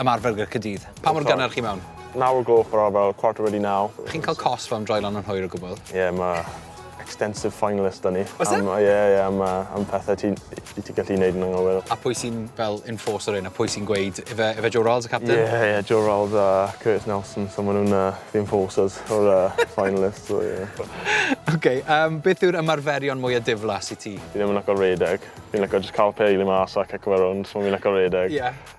Ymarfer gyda Caerdydd. Pa mor gynnar chi mewn? Naw o'r gloch fel arfer, quarter wedi naw. Chi'n cael cosb am droi lan yn hwyr o gwbl? Ie, yeah, mae extensive fine list da ni. Oes e? Am, ie, yeah, ie, yeah, am, am pethau ti'n ti gallu gwneud yn anghywir. A pwy sy'n fel enforcer un, a pwy sy'n gweud, efe, efe Joe Rolls y captain? Ie, yeah, ie, yeah, Joe Rolls a Curtis Nelson, so maen nhw'n uh, the enforcers o'r uh, fine list. So, yeah. okay, um, beth yw'r ymarferion mwyaf diflas i ti? Fi ddim yn lyco redeg. Fi'n lyco just cael peil i mas a cico fe rownd, so fi'n lyco redeg. Ie. Yeah.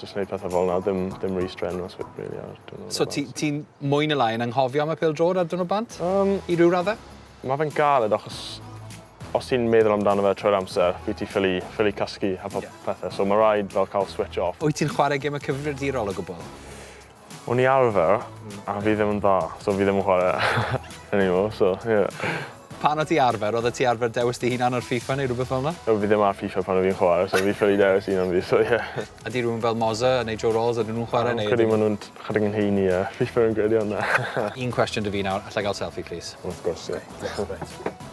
Jyst neud pethe fel 'na. Dim dim rhy strenuous wi- rili ar diwrnod y bant. So ti ti'n mwy ne' lai yn anghofio am y pêl-drod ar diwrnod bant? Yym. I ryw radde? Ma' fe'n galed achos os ti'n meddwl amdano fe trwy'r amser wyt ti ffili ffili cysgu a po- pethe so ma' raid fel ca'l switch off. Wyt ti'n chware geme cyfrifiadurol o gwbwl? O'n i arfer, a fi ddim yn dda, so fi ddim yn chwarae anymore, so ie. Pan o' ti arfer, odde ti arfer dewis dy hunan ar FIFA neu rwbeth fel 'na? O fi ddim ar FIFA pan o' fi'n chware, so fi ffili dewis un am fi, so ie. Ydi rywun fel Mozza neu Joe Ralls, ydyn nhw'n chware neu ydyn nhw... Credu ma' nhw'n chydig yn hŷn i yy FIFA fi'n credu ond na. Un cwestiwn 'da fi nawr, allai ga'l selfie plîs? Wrth gwrs ie. Diolch. Reit.